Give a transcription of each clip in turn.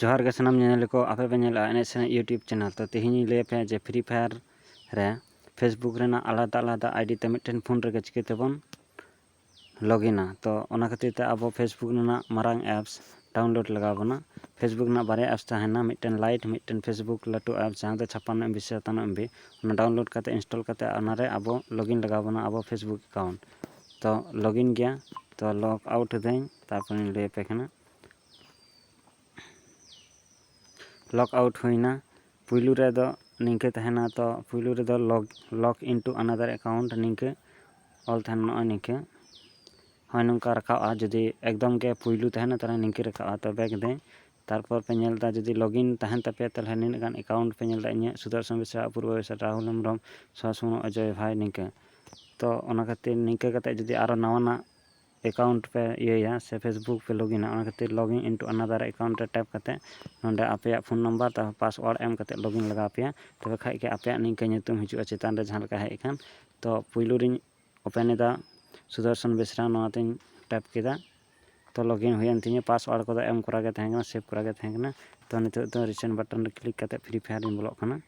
ᱡᱚᱦᱟᱨ ᱜᱮ ᱥᱟᱱᱟᱢ ᱧᱮᱧᱮᱞᱤᱭᱟᱹ ᱠᱚ ᱟᱯᱮ ᱯᱮ ᱧᱮᱞᱮᱫᱼᱟ ᱮᱱᱮᱡ ᱥᱮᱨᱮᱧ ᱤᱭᱩᱴᱩᱵᱽ ᱪᱮᱱᱮᱞ ᱛᱚ ᱛᱮᱦᱮᱧ ᱤᱧ ᱞᱟᱹᱭ ᱟᱯᱮᱭᱟ ᱡᱮ ᱯᱷᱨᱤ ᱯᱷᱟᱭᱟᱨ ᱨᱮ ᱯᱷᱮᱥᱵᱩᱠ ᱨᱮᱱᱟᱜ ᱟᱞᱟᱫᱟ ᱟᱞᱟᱫᱟ ᱟᱭᱰᱤ ᱛᱮ ᱢᱤᱫᱴᱮᱱ ᱯᱷᱳᱱ ᱨᱮᱜᱮ ᱪᱤᱠᱟᱹ ᱛᱮᱵᱚᱱ ᱞᱚᱜᱤᱱᱟ ᱛᱚ ᱚᱱᱟ ᱠᱷᱟᱹᱛᱤᱨ ᱛᱮ ᱟᱵᱚ ᱯᱷᱮᱥᱵᱩᱠ ᱨᱮᱱᱟᱜ ᱢᱟᱨᱟᱝ ᱮᱯᱥ ᱰᱟᱣᱩᱱᱞᱳᱰ ᱞᱟᱜᱟᱣ ᱵᱚᱱᱟ ᱯᱷᱮᱥᱵᱩᱠ ᱨᱮᱱᱟᱜ ᱵᱟᱨᱭᱟ ᱮᱯᱥ ᱛᱟᱦᱮᱱᱟ ᱢᱤᱫᱴᱮᱱ ᱞᱟᱭᱤᱴ ᱢᱤᱫᱴᱮᱱ ᱯᱷᱮᱥᱵᱩᱠ ᱞᱟᱹᱴᱩ ᱮᱯᱥ ᱡᱟᱦᱟᱸ ᱫᱚ ᱪᱷᱟᱯᱟᱱᱱᱚ ᱮᱢᱵᱤ ᱥᱮ ᱥᱟᱛᱟᱱᱱᱚ ᱮᱢᱵᱤ ᱚᱱᱟ ᱰᱟᱣᱩᱱᱞᱳᱰ ᱠᱟᱛᱮᱫ ᱤᱱᱥᱴᱚᱞ ᱠᱟᱛᱮᱫ ᱚᱱᱟᱨᱮ ᱟᱵᱚ ᱞᱚᱜᱤᱱ ᱞᱟᱜᱟᱣ ᱵᱚᱱᱟ ᱟᱵᱚ ᱯᱷᱮᱥᱵᱩᱠ ᱮᱠᱟᱣᱩᱱᱴ ᱛᱚ ᱞᱚᱜᱤᱱ ᱜᱮᱭᱟ ᱛᱚ ᱞᱚᱜᱽ ᱟᱣᱩᱴ ᱮᱫᱟᱹᱧ ᱛᱟᱨᱯᱚᱨᱮᱧ ᱞᱟᱹᱭ ᱟᱯᱮ ᱠᱟᱱᱟ ᱞᱚᱜᱽ ᱟᱣᱩᱴ ᱦᱩᱭᱮᱱᱟ ᱯᱩᱭᱞᱩ ᱨᱮᱫᱚ ᱱᱤᱝᱠᱟᱹ ᱛᱟᱦᱮᱱᱟ ᱛᱚ ᱯᱩᱭᱞᱩ ᱨᱮᱫᱚ ᱞᱚᱜᱽ ᱞᱚᱜᱽ ᱤᱱᱴᱩ ᱟᱱᱟᱫᱟᱨ ᱮᱠᱟᱣᱩᱱᱴ ᱱᱤᱝᱠᱟᱹ ᱚᱞ ᱛᱟᱦᱮᱱᱟ ᱱᱚᱜᱼᱚᱭ ᱱᱤᱝᱠᱟᱹ ᱦᱳᱭ ᱱᱚᱝᱠᱟ ᱨᱟᱠᱟᱵᱼᱟ ᱡᱩᱫᱤ ᱮᱠᱫᱚᱢ ᱜᱮ ᱯᱩᱭᱞᱩ ᱛᱟᱦᱮᱱᱟ ᱛᱟᱦᱚᱞᱮ ᱱᱤᱝᱠᱟᱹ ᱨᱟᱠᱟᱵᱼᱟ ᱛᱚ ᱵᱮᱠ ᱮᱫᱟᱹᱧ ᱛᱟᱨᱯᱚᱨ ᱯᱮ ᱧᱮᱞ ᱮᱫᱟ ᱡᱩᱫᱤ ᱞᱚᱜᱽ ᱤᱱ ᱛᱟᱦᱮᱱ ᱛᱟᱯᱮᱭᱟ ᱛᱟᱦᱚᱞᱮ ᱱᱤᱱᱟᱹᱜ ᱜᱟᱱ ᱮᱠᱟᱣᱩᱱᱴ ᱯᱮ ᱧᱮᱞ ᱮᱫᱟ ᱤᱧᱟᱹᱜ ᱥᱩᱫᱚᱨᱥᱚᱱ ᱵᱮᱥᱨᱟ ᱚᱯᱩᱨᱵᱚ ᱵᱮᱥᱨᱟ ᱨᱟᱦᱩᱞ ᱦᱮᱢᱵᱨᱚᱢ ᱥᱩᱦᱟᱥ ᱢᱩᱨᱢᱩ ᱚᱡᱚᱭ ᱵᱷᱟᱭ ᱱᱤᱝᱠᱟᱹ ᱛᱚ ᱚᱱᱟ ᱠᱷᱟᱹᱛᱤᱨ ᱱᱤᱝᱠᱟᱹ ᱠᱟᱛᱮᱫ ᱡᱩᱫᱤ ᱟᱨᱚ ᱱᱟᱣᱟᱱᱟᱜ ᱮᱠᱟᱣᱩᱱᱴ ᱯᱮ ᱤᱭᱟᱹᱭᱟ ᱥᱮ ᱯᱷᱮᱥᱵᱩᱠ ᱯᱮ ᱞᱚᱜᱤᱱᱟ ᱚᱱᱟ ᱠᱷᱟᱹᱛᱤᱨ ᱞᱚᱜᱤᱱ ᱤᱱᱴᱩ ᱟᱱᱟᱫᱟᱨ ᱮᱠᱟᱣᱩᱱᱴ ᱨᱮ ᱴᱮᱯ ᱠᱟᱛᱮ ᱱᱚᱰᱮ ᱟᱯᱮᱭᱟᱜ ᱯᱷᱳᱱ ᱱᱟᱢᱵᱟᱨ ᱛᱟᱨᱯᱚᱨ ᱯᱟᱥᱚᱣᱟᱨᱰ ᱮᱢ ᱠᱟᱛᱮ ᱞᱚᱜᱤᱱ ᱞᱟᱜᱟᱣ ᱟᱯᱮᱭᱟ ᱛᱚᱵᱮ ᱠᱷᱟᱡ ᱜᱮ ᱟᱯᱮᱭᱟᱜ ᱱᱤᱝᱠᱟᱹ ᱧᱩᱛᱩᱢ ᱦᱤᱡᱩᱜᱼᱟ ᱪᱮᱛᱟᱱ ᱨᱮ ᱡᱟᱦᱟᱸ ᱞᱮᱠᱟ ᱦᱮᱡ ᱟᱠᱟᱱ ᱛᱚ ᱯᱩᱭᱞᱩ ᱨᱤᱧ ᱳᱯᱮᱱ ᱮᱫᱟ ᱥᱩᱫᱚᱨᱥᱚᱱ ᱵᱮᱥᱨᱟ ᱱᱚᱣᱟ ᱛᱤᱧ ᱴᱮᱯ ᱠᱮᱫᱟ ᱛᱚ ᱞᱚᱜᱤᱱ ᱦᱩᱭᱮᱱ ᱛᱤᱧᱟᱹ ᱯᱟᱥᱚᱣᱟᱨᱰ ᱠᱚᱫᱚ ᱮᱢ ᱠᱚᱨᱟ ᱜᱮ ᱛᱟᱦᱮᱸ ᱠᱟᱱᱟ ᱥᱮᱵᱷ ᱠᱚᱨᱟ ᱜᱮ ᱛᱟᱦᱮᱸ ᱠᱟᱱᱟ ᱛᱚ ᱱᱤᱛᱚᱜ ᱫᱚ ᱨᱤᱥᱮᱱᱴ ᱵᱟᱴᱚᱱ ᱨᱮ ᱠᱞᱤᱠ ᱠᱟᱛᱮ ᱯᱷᱨᱤ ᱯᱷᱟᱭᱟᱨ ᱨᱤᱧ ᱵᱚᱞᱚᱜ ᱠᱟᱱᱟ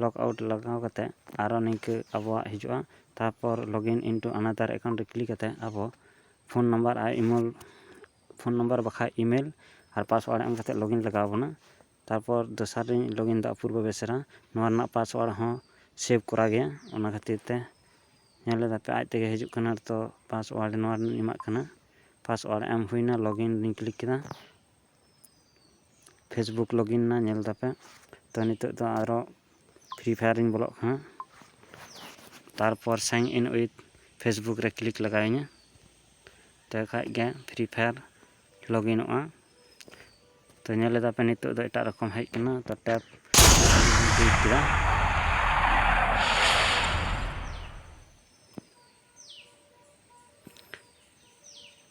ᱞᱚᱜᱽ ᱟᱣᱩᱴ ᱞᱟᱜᱟᱣ ᱠᱟᱛᱮ ᱟᱨᱚ ᱱᱤᱝᱠᱟᱹ ᱟᱵᱚᱣᱟᱜ ᱦᱤᱡᱩᱜᱼᱟ ᱛᱟᱨᱯᱚᱨ ᱞᱚᱜᱤᱱ ᱤᱱᱴᱩ ᱟᱱᱟᱫᱟᱨ ᱮᱠᱟᱣᱩᱱᱴ ᱨᱮ ᱠᱞᱤᱠ ᱠᱟᱛᱮ ᱟᱵᱚ ᱯᱷᱳᱱ ᱱᱟᱢᱵᱟᱨ ᱟᱨ ᱤᱢᱮᱞ ᱯᱷᱳᱱ ᱱᱟᱢᱵᱟᱨ ᱵᱟᱠᱷᱟᱡ ᱤᱢᱮᱞ ᱟᱨ ᱯᱟᱥᱚᱣᱟᱨᱰ ᱮᱢ ᱠᱟᱛᱮ ᱞᱚᱜᱤᱱ ᱞᱟᱜᱟᱣ ᱵᱚᱱᱟ ᱛᱟᱨᱯᱚᱨ ᱫᱚᱥᱟᱨ ᱨᱤᱧ ᱞᱚᱜᱤᱱ ᱫᱟ ᱚᱯᱩᱨᱵᱚ ᱵᱮᱥᱨᱟ ᱱᱚᱣᱟ ᱨᱮᱱᱟᱜ ᱯᱟᱥᱚᱣᱟᱨᱰ ᱦᱚᱸ ᱥᱮᱵᱷ ᱠᱚᱨᱟ ᱜᱮᱭᱟ ᱚᱱᱟ ᱠᱷᱟᱹᱛᱤᱨ ᱛᱮ ᱧᱮᱞ ᱞᱮᱫᱟ ᱯᱮ ᱟᱡ ᱛᱮᱜᱮ ᱦᱤᱡᱩᱜ ᱠᱟᱱᱟ ᱛᱚ ᱯᱟᱥᱚᱣᱟᱨᱰ ᱱᱚᱣᱟ ᱨᱮᱱᱟᱜ ᱤᱧ ᱮᱢᱟᱜ ᱠᱟᱱᱟ ᱯᱟᱥᱚᱣᱟᱨᱰ ᱮᱢ ᱦᱩᱭᱱᱟ ᱞᱚᱜᱤᱱ ᱨᱤᱧ ᱠᱞᱤᱠ ᱠᱮᱫᱟ ᱯᱷᱮᱥᱵᱩᱠ ᱞᱚᱜᱤᱱ ᱮᱱᱟ ᱧᱮᱞ ᱮᱫᱟᱯᱮ ᱛᱚ ᱱᱤᱛᱚᱜ ᱫᱚ ᱟᱨᱚ ᱯᱷᱨᱤ ᱯᱷᱟᱭᱟᱨ ᱨᱤᱧ ᱵᱚᱞᱚᱜ ᱠᱟᱱᱟ ᱛᱟᱨᱯᱚᱨ ᱥᱟᱭᱤᱱ ᱤᱱ ᱩᱭᱤᱛᱷ ᱯᱷᱮᱥᱵᱩᱠ ᱨᱮ ᱠᱞᱤᱠ ᱞᱟᱜᱟᱣᱤᱧᱟᱹ ᱛᱚ ᱠᱷᱟᱡ ᱜᱮ ᱯᱷᱨᱤ ᱯᱷᱟᱭᱟᱨ ᱞᱚᱜᱤᱱᱚᱜᱼᱟ ᱛᱚ ᱧᱮᱞ ᱮᱫᱟᱯᱮ ᱱᱤᱛᱚᱜ ᱫᱚ ᱮᱴᱟᱜ ᱨᱚᱠᱚᱢ ᱦᱮᱡ ᱠᱟᱱᱟ ᱛᱚ ᱴᱮᱯ ᱠᱞᱤᱠ ᱠᱮᱫᱟ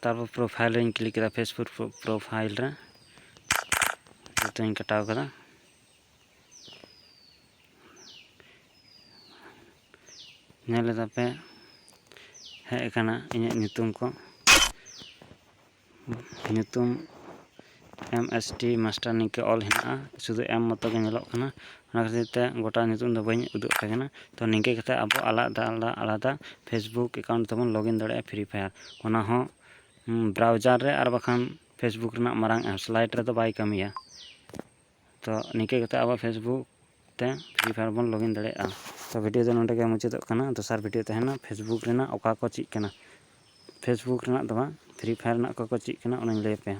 ᱛᱟᱨᱯᱚᱨ ᱯᱨᱚᱯᱷᱟᱭᱤᱞ ᱨᱮᱧ ᱠᱞᱤᱠ ᱠᱮᱫᱟ ᱯᱷᱮᱥᱵᱩᱠ ᱯᱨᱚᱯᱷᱟᱭᱤᱞ ᱨᱮ ᱡᱚᱛᱚᱧ ᱠᱟᱴᱟᱣ ᱠᱮᱫᱟ ᱧᱮᱞ ᱮᱫᱟ ᱯᱮ ᱦᱮᱡ ᱟᱠᱟᱱᱟ ᱤᱧᱟᱹᱜ ᱧᱩᱛᱩᱢ ᱠᱚ ᱧᱩᱛᱩᱢ ᱮᱢ ᱮᱥ ᱴᱤ ᱢᱟᱥᱴᱟᱨ ᱱᱤᱝᱠᱟᱹ ᱚᱞ ᱦᱮᱱᱟᱜᱼᱟ ᱥᱩᱫᱩ ᱮᱢ ᱢᱚᱛᱚ ᱜᱮ ᱧᱮᱞᱚᱜ ᱠᱟᱱᱟ ᱚᱱᱟ ᱠᱷᱟᱹᱛᱤᱨ ᱛᱮ ᱜᱚᱴᱟ ᱧᱩᱛᱩᱢ ᱫᱚ ᱵᱟᱹᱧ ᱩᱫᱩᱜ ᱟᱯᱮ ᱠᱟᱱᱟ ᱛᱚ ᱱᱤᱝᱠᱟᱹ ᱠᱟᱛᱮᱫ ᱟᱵᱚ ᱟᱞᱟᱫᱟ ᱟᱞᱟᱫᱟ ᱟᱞᱟᱫᱟ ᱯᱷᱮᱥᱵᱩᱠ ᱮᱠᱟᱣᱩᱱᱴ ᱛᱮᱵᱚᱱ ᱞᱚᱜᱽ ᱤᱱ ᱫᱟᱲᱮᱭᱟᱜᱼᱟ ᱯᱷᱨᱤ ᱯᱷᱟᱭᱟᱨ ᱚᱱᱟ ᱦᱚᱸ ᱵᱨᱟᱣᱡᱟᱨ ᱨᱮ ᱟᱨ ᱵᱟᱠᱷᱟᱱ ᱯᱷᱮᱥᱵᱩᱠ ᱨᱮᱱᱟᱜ ᱢᱟᱨᱟᱝ ᱮᱯᱥ ᱞᱟᱭᱤᱴ ᱨᱮᱫᱚ ᱵᱟᱭ ᱠᱟᱹᱢᱤᱭᱟ ᱛᱚ ᱱᱤᱝᱠᱟᱹ ᱠᱟᱛᱮ ᱟᱵᱟᱨ ᱯᱷᱮᱥᱵᱩᱠ ᱛᱮ ᱯᱷᱨᱤ ᱯᱷᱟᱭᱟᱨ ᱵᱚᱱ ᱞᱚᱜᱤᱱ ᱫᱟᱲᱮᱭᱟᱜᱼᱟ ᱛᱚ ᱵᱷᱤᱰᱭᱳ ᱫᱚ ᱱᱚᱰᱮ ᱜᱮ ᱢᱩᱪᱟᱹᱫᱚᱜ ᱠᱟᱱᱟ ᱫᱚᱥᱟᱨ ᱵᱷᱤᱰᱭᱳ ᱛᱟᱦᱮᱱᱟ ᱯᱷᱮᱥᱵᱩᱠ ᱨᱮᱱᱟᱜ ᱚᱠᱟ ᱠᱚ ᱪᱮᱫ ᱠᱟᱱᱟ ᱯᱷᱮᱥᱵᱩᱠ ᱨᱮᱱᱟᱜ ᱫᱚ ᱵᱟᱝ ᱯᱷᱨᱤ ᱯᱷᱟᱭᱟᱨ ᱨᱮᱱᱟᱜ ᱚᱠᱟ ᱠᱚ ᱪᱮᱫ ᱠᱟᱱᱟ ᱚᱱᱟᱧ ᱞᱟᱹᱭ ᱟᱯᱮᱭᱟ